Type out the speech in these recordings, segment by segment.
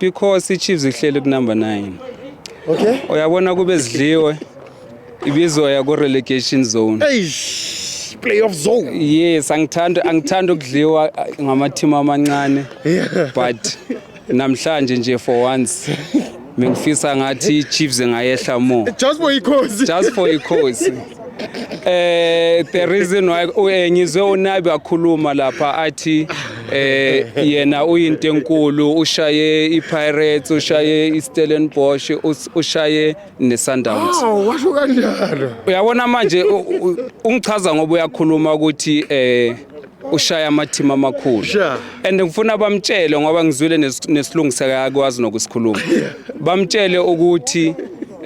because iChiefs ihleli kunumber 9 okay uyabona kube zidliwe ibizoya ku relegation zone eish playoff zone yes angithanda angithanda ukudliwa uh, ngamathima amancane but namhlanje nje for once mengifisa ngathi iChiefs ngayehla more just for ikhosi just for ikhosi Eh the reason why eh, ngizwe unabi akhuluma lapha athi eh yena uyinto enkulu ushaye iPirates ushaye iStellenbosch us- ushaye neSundowns. Awu washo kanjalo. Uyabona manje u- u- ungichaza ngoba uyakhuluma ukuthi eh ushaya amathima amakhulu and ngifuna bamtshele ngoba ngizwile nesilungisa yakwazi nokusikhuluma bamtshele ukuthi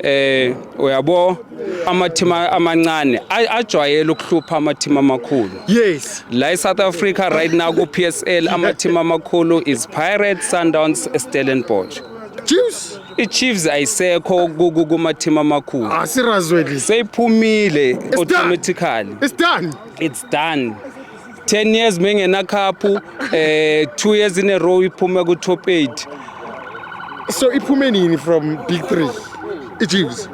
eh uyabo amathima amancane ajwayele ukuhlupha amathima amakhulu yes la eSouth Africa right now ku PSL amathima amakhulu is Pirates Sundowns Stellenbosch Chiefs iChiefs ayisekho kumathima amakhulu asirazweli seyiphumile automatically it's done it's done 10 years mengenakhaphu eh 2 years in a row iphume ku top 8 so iphume nini from big 3 ichiefs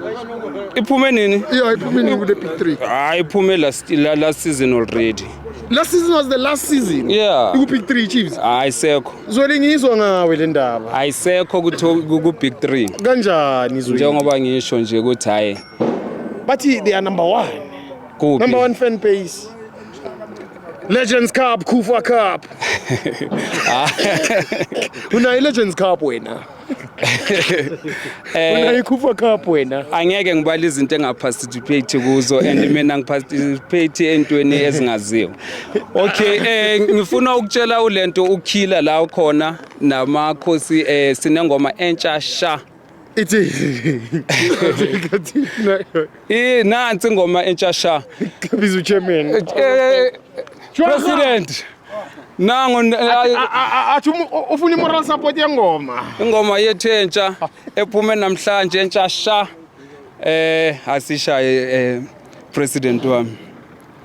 iphume nini iyo iphume nini kule big 3 hayi iphume last la- last season already last season was the last season Yeah. ku big 3 chiefs ayisekho zweli ngizwa ngawe le ndaba ayisekho ku to- ku ku big 3 kanjani zweli njengoba ngisho nje ukuthi hayi bathi they are number 1 Kuphi? Number one fan base. Legends Cup, Kufa Cup. Unayo i-Legends Cup wena. Eh, Unayo i-Kufa Cup wena. angeke ngibale izinto engaparticipate kuzo and mina ngiparticipate entweni ezingaziwa okay eh ngifuna ukutshela ulento ukhila la khona namakhosi eh sinengoma entsha sha ithi i nansi ingoma entsha sha biza uchairman eh, eh, president nango athi ufuna imoral support yengoma ingoma yethu entsha ephume namhlanje entsha sha eh asishaye eh, president wami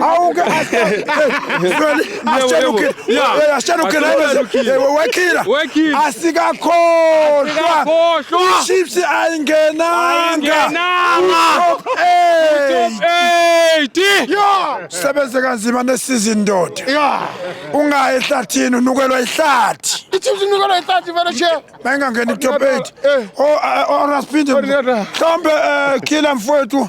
Awuke ashele ukhe ashele ukhe wekhila asikakhohlwa Chiefs ayingenanga sebenze kanzima nesizini ndoda ungayi ehlathini unukelwa ihlathi iChiefs inukelwa ihlathi vele che mayingangeni top 8 o Rasphinde mhlawumbe khila mfowethu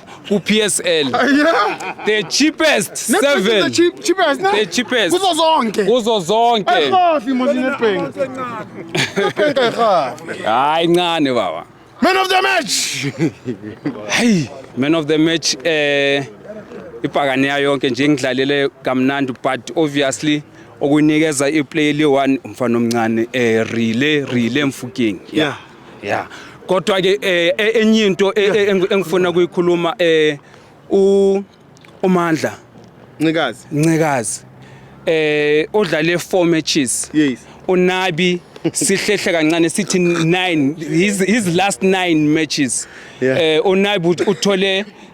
ku-PSL Yeah. the cheapest Netbank is seven the cheap- cheapest, ne? The cheapest. Kuzo zonke. kuzo zonke Ayirhafi mos iNetbank. Netbank ayirhafi. hayi ncane baba Man of the match. hey man of the match eh ibhakaneya yonke nje ngidlalele kamnandi but obviously okunikeza iplay le one umfana omncane eh relay relay mfuking Yeah. yeah kodwa ke eh, eh, enye into eh, eh, engi- engifuna kuyikhuluma eh u uMandla ncikazi Ncikazi eh odlale 4 matches yes unabi sihlehle kancane sithi 9 his, his last 9 matches Yeah. eh unabi ut- uthole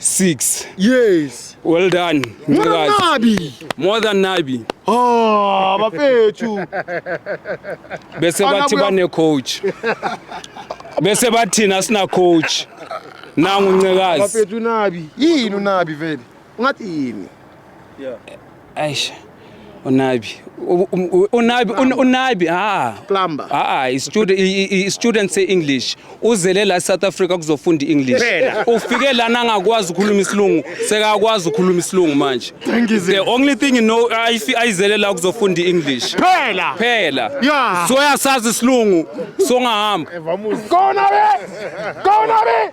6 yes well done nabi more than nabi oh bafethu bese bathi bane coach bese bathina sina coach nangu ncekazi bafethu nabi yini unabi vele ungathi yini Aish. Unabi. U- um- u- Unabi un- unabi ah. Plumber. Ah, ah, student i- i- i- student say English. Uzele la South Africa kuzofunda English. Phela. Ufike lana angakwazi ukukhuluma isilungu, sekakwazi ukukhuluma isilungu manje. The only thing you know ayifi- ayizele la kuzofunda English. Phela. Phela. Yeah. So yasazi isilungu, so ngahamba. Kona be! Kona be!